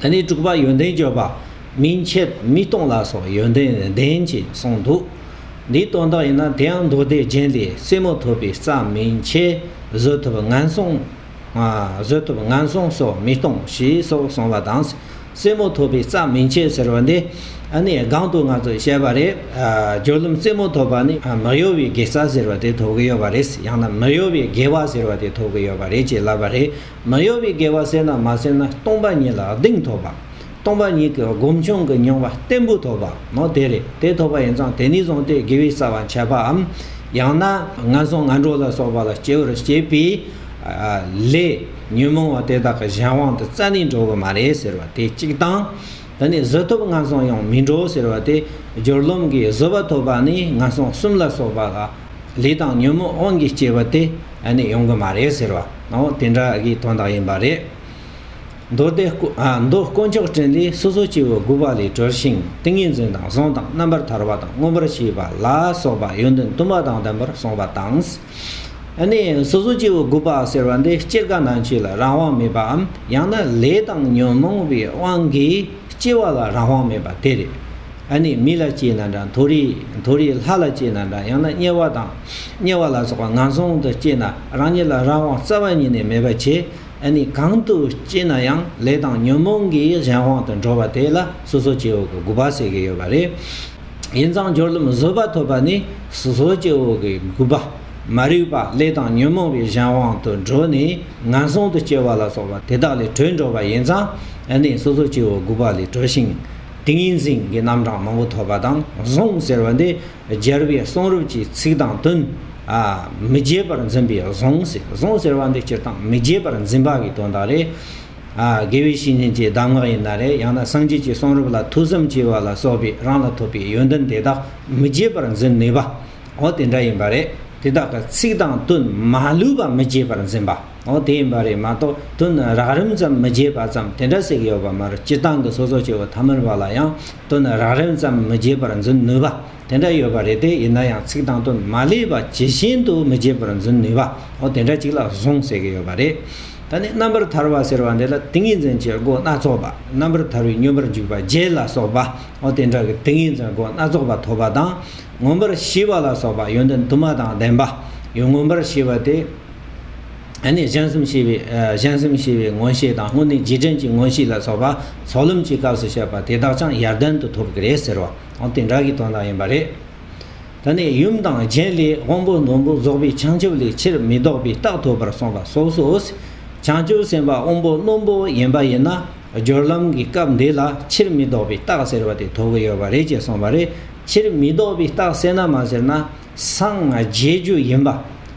དེ་ནས་དྲུག་པ་ཡོན་ཏན་བརྗོད་པ་མིན་ཕྱིར་མི་སྟོང་ལ་སོགས་ཡོན་ཏན་ལྡན་ཅེས་གསུངས་འདུག། འདིའི་དོན་དག་ཡིན་ན་དེའང་མདོ་སྡེ་རྒྱན་ལས་རྩེ་མོ་ཐོབ་པའི་རྩ་མིན་ཕྱིར་བཟོད་ཐོབ་ངན་སོང། བཟོད་ཐོབ་ངན་སོང་སོགས་མི་སྟོང་ཞེས་སོགས་གསུངས་པ་དང། རྩེ་མོ་ཐོབ་པའི་རྩ་མིན་ཕྱིར་ཟེར་བ་འདི་ནི་སྒང་དུ་ང་ཚོས་བཤད་པ་རེད། སྦྱོར་ལམ་རྩེ་མོ་ཐོབ་པ་ནི་མི་གཡོ་བའི་དགེ་རྩ་ཟེར་བ་དེ་ཐོབ་ཀྱི་ཡོད་པ་རེད། ཡང་ན་མི་གཡོ་བའི་དགེ་བ་ཟེར་བ་དེ་ཐོབ་ཀྱི་ཡོད་པ་རེད་ཅེས་ལབ་པ་རེད། མ་གཡོ་བའི་དགེ་བ་བསྲེས་ན་མ་བསྲེས་ན་སྟོང་པ་ཉིད་ལ་གདེང་ཐོབ་པ། སྟོང་པ་ཉིད་ཀྱི་སྒོམ་བྱུང་གི་མྱོང་བ་བརྟན་པོ་ཐོབ་པའོ། དེ་རེད་དེ་ཐོབ་པ་ཡིན་ཙང་དེ་ནས་བཟུང་སྟེ་དགེ་བའི་རྩ་བ་འཆད་པའམ། ཡང་ན་ངན་སོང་ངན་འགྲོ་ལ་སོགས་པ་ལ་སྐྱེ་བར་བྱེད་པའི། ལས་ཉོན་མོངས་བ་དེ་དག་གི་གཞན་དབང་དུ་རྩ་ནས་འགྲོ་གི་མ་རེད་ཟེར་བ་དེ་གཅིག་དང། དེ་ནས་གཟུ་ཐོབ་ངན་སོང་ཡང་མི་འགྲོ་ཟེར་བ་དེ་སྦྱོར་ལམ་གྱི་གཟུ་བ་ཐོབ་པ་ནི་ངན་སོང་གསུམ་ལ་སོགས་པ་ལ། ལས་དང་ཉོན་མོངས་དབང་གིས་སྐྱེས་པ་དེ་ནི་ཡོང་གི་མ་རེད་ཟེར་བ་ནའོ་དེ་འདྲ་གི་དོན་དག་ཡིན་པ་རེད། མདོ་སྡེ་མདོ་དཀོན་མཆོག་སྤྲིན་ལས་སོ་སོ་སྐྱེ་བོ་དགུ་པ་ལས་གྲོལ་ཞིང་ཏིང་ངེ་འཛིན་དང་གཟུངས་དང་རྣམ་པར་ཐར་བ་དང་མངོན་པར་ཤེས་པ་ལ་སོགས་པ་ཡོན་ཏན་བདུན་པ་དང་ལྡན་པར་གསུངས་པ་དང། ནི་སོ་སོ་སྐྱེ་བོ་དགུ་པ་ཟེར་བ་འདི་སྤྱིར་གང་ན་ཆོས་ལ་རང་དབང་མེད་པའམ་ཡང་ན་ལས་དང་ཉོན་མོངས་པའི་དབང་གིས་སྐྱེ་བ་ལ་རང་དབང་མེད་པ་དེ་རེད། ཨ་ནི་མི་ལ་སྐྱེས་ན་འདྲ་མཐོ་རིས་མཐོ་རིས་ལྷ་ལ་སྐྱེས་ན་འདྲ་ཡང་ན་དམྱལ་བ་དང། དམྱལ་བ་ལ་སོགས་པ་ངན་སོང་དུ་སྐྱེས་ན་རང་ཉིད་ལ་རང་དབང་རྩ་བ་ཉིད་ནས་མེད་པར་བྱེད། ཨ་ནི་གང་དུ་སྐྱེས་ན་ཡང་ལས་དང་ཉོན་མོངས་ཀྱིས་གཞན་དབང་དུ་འགྲོ་བ་དེ་ལ་སོ་སོ་སྐྱེ་བོ་གི་དགུ་པ་ཟེར་གྱི་ཡོད་པ་རེད། ཡིན་ཙང་སྦྱོར་ལམ་བཟོད་པ་ཐོབ་པ་ནི་སོ་སོ་སྐྱེ་བོ་གི་དགུ་པ། མ་རིག་པ་ལས་དང་ཉོན་མོངས་པའི་གཞན་དབང་དུ་འགྲོ་ནས་ངན་སོང་དུ་སྐྱེ་བ་ལ་སོགས་པ་དེ་དག་ལས་གྲོལ་འགྲོ་བ་ཡིན་ཙང་ཨ་ནི་སོ་སོ་སྐྱེ་བོ་དགུ་པ་ལས་གྲོལ་ཞིང། ཏིང་ངེ་འཛིན་གྱི་རྣམ་གྲངས་མང་པོ་ཐོབ་པ་དང་བཟུང་ཟེར་བ་འདི་སྦྱར་བའི་གསུང་རབ་ཀྱི་ཚིག་དང་དོན། མི་བརྗེད་པར་འཛིན་པའི་བཟུང་ཟེར་བཟུང་ཟེར་བ་འདི་སྤྱིར་བཏང་མི་བརྗེད་པར་འཛིན་པ་གི་དོན་དག་རེད། དགེ་བའི་བཤེས་གཉེན་གྱི་གདམས་ངག་ཡིན་ན་རེད་ཡང་ན་སངས་རྒྱས་ཀྱི་གསུང་རབ་ལ་ཐུགས་བསམ་བསྐྱེད་པ་ལ་སོགས་པའི་རང་ལ་ཐོབ་པའི་ཡོན་ཏན་དེ་དག་མི་བརྗེད་པར་འཛིན་ནུས་པའོ་དེ་འདྲ་ཡིན་པ་རེད། དེ་དག་གི་ཚིག་དང་དོན་མ་ལུས་པ་མི་བརྗེད་པར་འཛིན་པ། འོ་དེ་ཡིན་པ་རེད་མ་གཏོགས་དུ་ནི་རགས་རིམ་ཙམ་མི་བརྗེད་པ་ཙམ་དེ་འདྲ་ཞིག་ཡོད་པ་མ་རེད་སྤྱིར་བཏང་གི་སོ་སོ་སྐྱེ་བོ་ཐ་མལ་པ་ལ་ཡང་དུ་ནི་རགས་རིམ་ཙམ་མི་བརྗེད་པར་འཛིན་ནུས་པ་དེ་འདྲ་ཡོད་པ་རེད་དེ་ཡིན་ན་ཡང་ཚིག་དང་དུ་མ་ལས་པ་ཇི་བཞིན་དུ་མི་བརྗེད་པར་འཛིན་ནུས་པའོ་དེ་འདྲ་ཅིག་ལ་བཟུང་ཟེར་གྱི་ཡོད་པ་རེད། ད་ནི་རྣམ་པར་ཐར་བ་ཟེར་བ་འདི་ལ་ཏིང་ངེ་འཛིན་གྱི་སྒོ་སྣ་ཚོགས་པ་རྣམ་པར་ཐར་བའི་སྙོམས་པར་འཇུག་པ་བརྒྱད་ལ་སོགས་པའོ་དེ་འདྲ་གི་ཏིང་ངེ་འཛིན་སྒོ་སྣ་ཚོགས་པ་ཐོབ་པ་དང་མངོན་པར་ཤེས་པ་ལ་སོགས་པ་ཡོན་ཏན་དུ་མ་དང་ལྡན་པ་ཡོན་མངོན་པར་ཤེས་པ་དེ། ནས་གཞན་སེམས་ཤེས་པའི་གཞན་སེམས་ཤེས་པའི་མངོན་ཤེས་དང་དངོས་གནས་རྗེས་དྲན་གྱི་མངོན་ཤེས་ལ་སོགས་པ་ཚོགས་ལམ་གྱི་སྐབས་སུ་བཤད་པ་དེ་དག་ཀྱང་ཡར་ལྡན་དུ་ཐོབ་གི་རེད་ཟེར་བ་འོ་དེ་འདྲ་གི་དོན་དག་ཡིན་པ་རེད། ད་ནི་ཡུམ་དང་རྒྱན་ལས་དབང་པོ་ནོར་བུ་རྫོགས་པའི་བྱང་ཆུབ་ལས་ཕྱིར་མི་ལྡོག་པའི་རྟགས་ཐོབ་པར་གསུངས་པ་སོ་སོས་བྱང་ཆུབ་སེམས་དཔའ་དབང་པོ་རྣོན་པོ་ཡིན་པ་ཡིན་ན་སྦྱོར་ལམ་གྱི་སྐབས་འདི་ལ་ཕྱིར་མི་ལྡོག་པའི་རྟགས་ཟེར་བ་དེ་ཐོབ་གི་ཡོད་པ་རེད་ཅེས་གསུངས་པ་རེད། ཕྱིར་མི་ལྡོག་པའི་རྟགས་གསལ་ན་མ་ཟེར་ན། སངས་རྒྱས་རྒྱུ་ཡིན་པ།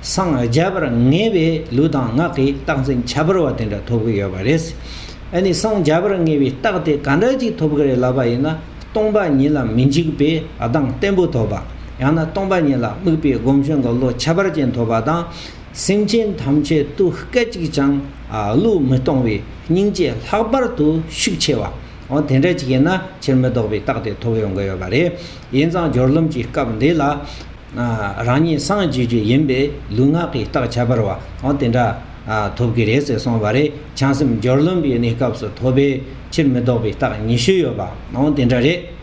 སངས་རྒྱས་པར་ངེས་པའི་ལུས་དང་ངག་གི་རྟགས་འཛིན་ཁྱད་པར་བ་དེ་འདྲ་ཐོབ་ཀྱི་ཡོད་པ་རེད། ཨ་ནི་སངས་རྒྱས་པར་ངེས་པའི་རྟགས་དེ་ག་འདྲ་ཅིག་ཐོབ་ཀྱི་རེད་ལབ་པ་ཡིན་ན་སྟོང་པ་ཉིད་ལ་མི་འཇིགས་པའི་གདངས་བརྟན་པོ་ཐོབ་པ། ཡང་ན་སྟོང་པ་ཉིད་ལ་དམིགས་པའི་སྒོམ་ཆེན་གྱི་བློ་ཁྱད་པར་ཅན་ཐོབ་པ་དང། སེམས་ཅན་ཐམས་ཅད་དུ་སྐད་ཅིག་ཀྱང་བློས་མི་གཏོང་བའི་སྙིང་རྗེ་ལྷག་པར་དུ་ཤུགས་ཆེ་བ། འོ་དེ་འདྲ་ཅིག་ཡིན་ན་ཕྱིར་མི་ལྡོག་པའི་རྟགས་དེ་ཐོབ་ཡོང་གི་ཡོད་པ་རེད། ཡིན་ཙང་སྦྱོར་རློམ་གྱི་སྐབས་འདི་ལ། རང་ཉིད་སངས་རྒྱས་རྒྱུ་ཡིན་པས་ལུས་ངག་གི་རྟགས་ཁྱད་པར་བ་འོ་དེ་འདྲ། ཐོབ་ཀྱི་རེད་ཟེར་སོང་བ་རེད་བྱང་སེམས་སྦྱོར་རློམ་པའི་གནས་སྐབས་སུ་ཐོབ་པའི་ཕྱིར་མི་ལྡོག་པའི་རྟགས་ཉི་ཤུ་ཡོད་པ་འོ་དེ་འདྲ་རེད།